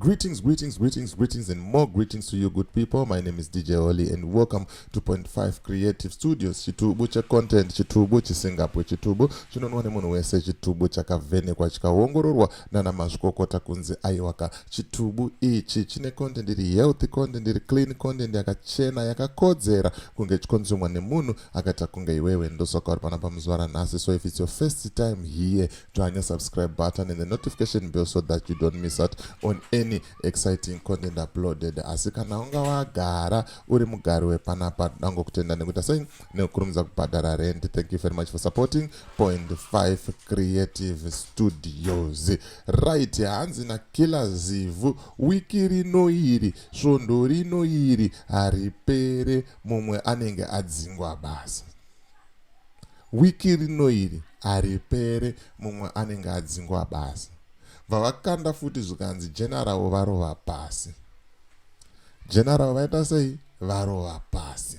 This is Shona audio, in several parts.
Greetings, greetings, greetings, greetings, and more greetings to you, good people. My name is DJ Oli, and welcome to Point Five Creative Studios. Chitubu cha content, chitubu chisingapo, chitubu chinonwa nemunhu wese, chitubu chakavhenekwa chikaongororwa nana mazvikokota kunzi aiwaka. Chitubu ichi chine content iri healthy content, iri clean content, yakachena, yakakodzera kunge chikonzumwa nemunhu akaita kunge iwewe. Ndosaka uri panapa muzuva ranhasi. So if it's your first time here, turn your subscribe button and the notification bell so that you don't miss out on any exciting content uploaded asi kana unga wagara uri mugari wepanapa dango kutenda nekuita sei nekukurumidza kubhadhara rent thank you very much for supporting point 5 creative studios right hanzi na kila zivhu wiki rino iri svondo rino iri haripere mumwe anenge adzingwa basa Wiki rino iri haripere mumwe anenge adzingwa basa. Bva vakanda futi zvikanzi general varova pasi. General vaita sei? Varova pasi.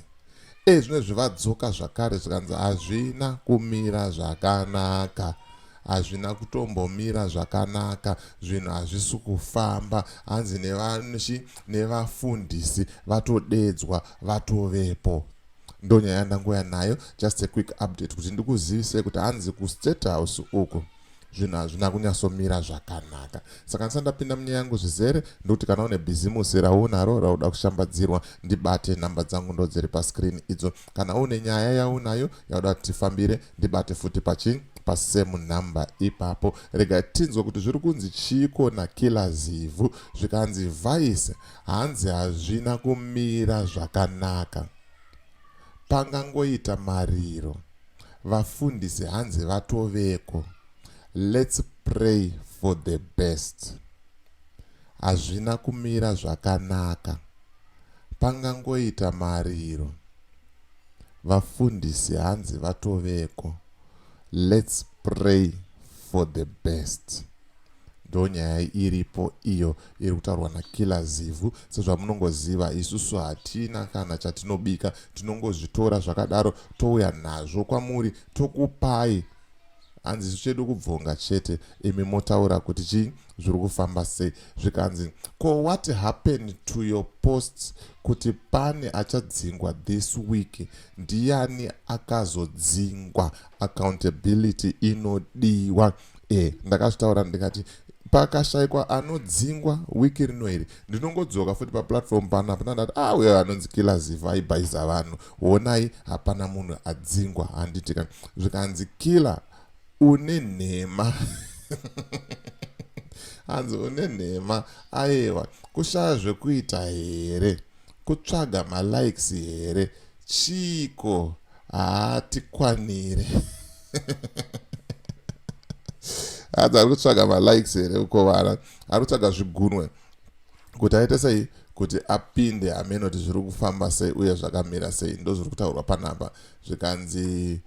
E zvino zvivadzoka zvakare zvikanzi hazvina kumira zvakanaka hazvina kutombomira zvakanaka zvinhu hazvisi kufamba hanzi nevanshi nevafundisi vatodedzwa vatovepo ndonyaya yandangouya nayo just a quick update kuti ndikuzivisei kuti hanzi kustate house uku zvinhu hazvina kunyatsomira zvakanaka saka ndisati ndapinda munyaya yangu zvizere ndokuti kana une bhizimusi raunaro rauda kushambadzirwa ndibate nhamba dzangu ndo dziri pascreen idzo kana une nyaya yaunayo yauda kuti tifambire ndibate futi pachii pasame number ipapo rega tinzwa kuti zviri kunzi chiiko nakila zivhu zvikanzi vice Hanzi hazvina kumira zvakanaka. Pangangoita mariro. Vafundisi hanzi vatoveko. Let's pray for the best. Hazvina kumira zvakanaka. Pangangoita mariro. Vafundisi hanzi vatoveko. Let's pray for the best. ndonyaya iripo iyo iri kutaurwa nakiller zivhu sezvamunongoziva isusu hatina kana chatinobika tinongozvitora zvakadaro touya nazvo kwamuri tokupai hanzi isu chedu kubvonga chete imi motaura kuti chii zviri kufamba sei zvikanzi ko what happened to your posts kuti pane achadzingwa this week ndiyani akazodzingwa accountability inodiwa no e ndakazvitaura ndikati pakashaikwa anodzingwa wiki rino iri ndinongodzoka futi paplatform pano hapana ndati a ah, uyo anonzi kila ziva aibhayiza vanhu honai hapana munhu adzingwa handiti ka zvikanzi kila une nhema hanzi une nhema ayewa kushaya zvekuita here kutsvaga malikes here chiiko hatikwanire adzi ari kutsvaga malikes here uko vana ari kutsvaga zvigunwe kuti aite sei kuti apinde amene kuti zviri kufamba sei uye zvakamira sei ndo zviri kutaurwa panhamba zvikanzi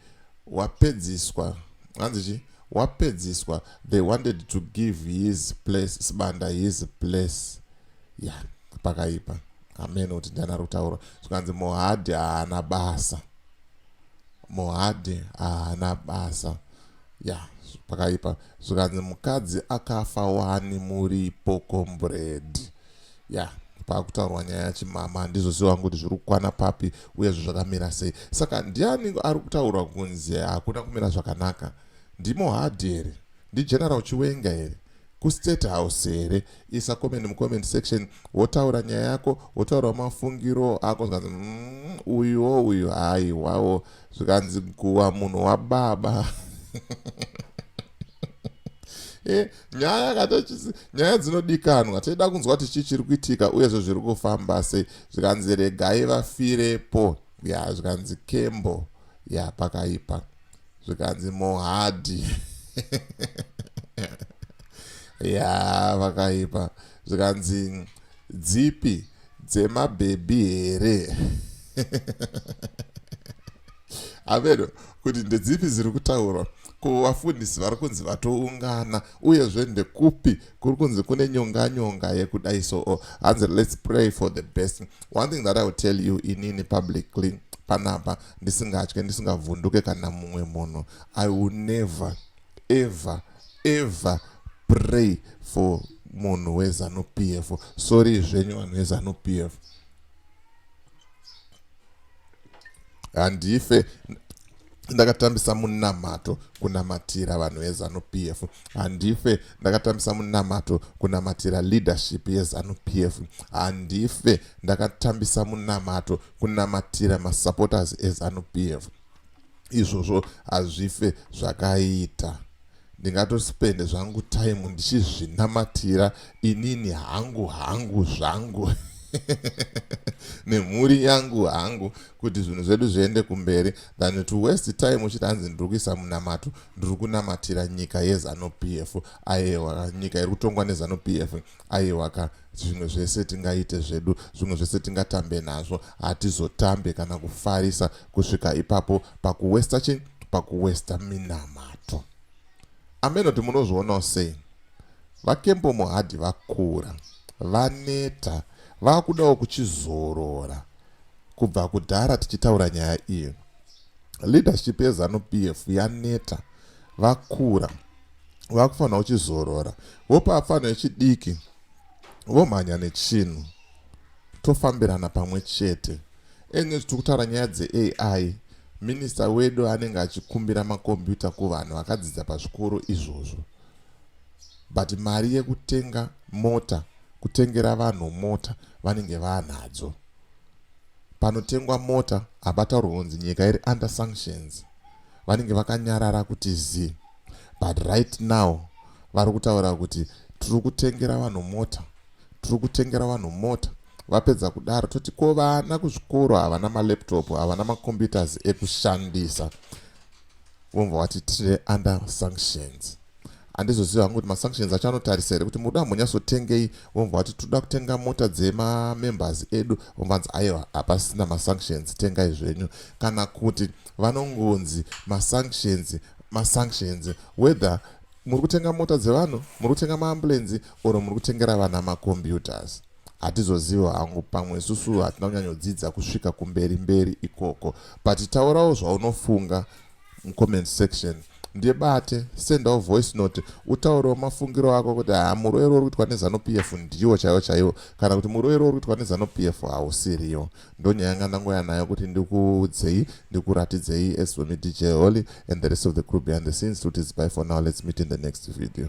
wapedziswa hanzi chi wapedziswa they wanted to give his place sibanda his place ya yeah, pakaipa ameno kuti ndana rutauro zvikanzi mohadhi haana basa mohadhi haana basa ya pakaipa zvikanzi mukadzi akafa wani muripo kombred ya pakutaurwa nyaya yachimama ndizvo si wangu kuti zviri kukwana papi uye zvo zvakamira sei saka ndiani ari kutaurwa kunzi hakuna kumira zvakanaka ndimo hadhi here Ndi General Chiwenga here? Ku State House here? Isa comment mu comment section wotaura nyaya yako, wotaurawo mafungiro ako zvikanzi mmm uyuwo uyu haiwawo zvikanzi guwa munhu wababa Eh, nyaya katochisi nyaya dzinodikanwa toida kunzwa kuti chii chiri kuitika uyezvo zviri kufamba sei zvikanzi regai vafirepo ya zvikanzi kembo ya pakaipa zvikanzi mohadhi ya vakaipa zvikanzi dzipi dzemabhebhi here amedo kuti ndedzipi dziri kutaurwa ko vafundisi vari kunzi vatoungana uyezve ndekupi kuri kunzi kune nyonga nyonga yekudai so oh, hanzi let's pray for the best one thing that i will tell you inini publicly panapa ndisingatye ndisingavhunduke kana mumwe munhu i will never ever ever pray for munhu wezanu p f sorry zvenyu vanhu vezanu p f handife ndakatambisa munamato kunamatira vanhu vezanu p f handife ndakatambisa munamato kunamatira leadership yezanu p f handife ndakatambisa munamato kunamatira masupporters ezanu p f izvozvo hazvife zvakaita ndingatospende zvangu time ndichizvinamatira inini hangu hangu zvangu nemhuri yangu hangu kuti zvinhu zvedu zviende kumberi than to west time uchiti hanzi ndiri kuisa munamato ndiri kunamatira nyika yezanupf aewa nyika iri kutongwa nezanupf Aiwa ka, zvimwe zvese tingaite zvedu, zvimwe zvese tingatambe nazvo, hatizotambe kana kufarisa kusvika ipapo pakuwesta chii? Pakuwesta minamato. Ameno kuti munozvionawo sei? VaKembo Mohadi vakura, vaneta, vakudawo kuchizorora kubva kudhara tichitaura nyaya iyi. Leadership yeZanu PF yaneta, vakura, vakufanira uchizorora vopa pfanha yechidiki vomhanya nechinhu tofambirana pamwe chete enge tiri kutaura nyaya dzeai minista wedu anenge achikumbira makombiyuta kuvanhu vakadzidza pazvikoro izvozvo but mari yekutenga mota kutengera vanhu mota vanenge vanadzo panotengwa mota hapataurwa kunzi nyika iri under sanctions vanenge vakanyarara kuti zii but right now vari kutaura kuti tiri kutengera vanhu mota tiri kutengera vanhu mota vapedza kudaro toti ko vana kuzvikoro havana malaptop havana macomputers ekushandisa vomva vati tiri under sanctions handizoziva hangu kuti masanctions acho anotarisa here kuti muda ambonyatsotengei vomva vati toda kutenga mota dzemamembers edu vomvanzi aiwa hapasina masanctions tengai zvenyu kana kuti vanongonzi masanctions masanctions whether muri kutenga mota dzevanhu muri kutenga maambulenzi or muri kutengera vana macomputers hatizoziva hangu pamwe isusu hatina kunyanyodzidza kusvika kumberi mberi ikoko but taurawo zvaunofunga mucomment section ndibate sendawo voice note utaurewo mafungiro ako kuti ha muroero uri kuitwa nezanupf ndiwo chaiwo chaiwo kana kuti muroero uri kuitwa nezanupf hausiriyo ndonyaya yanga ndangouya nayo kuti ndikuudzei ndikuratidzei as for me dj holy and the rest of the crew behind the scenes kuti zibai for now let's meet in the next video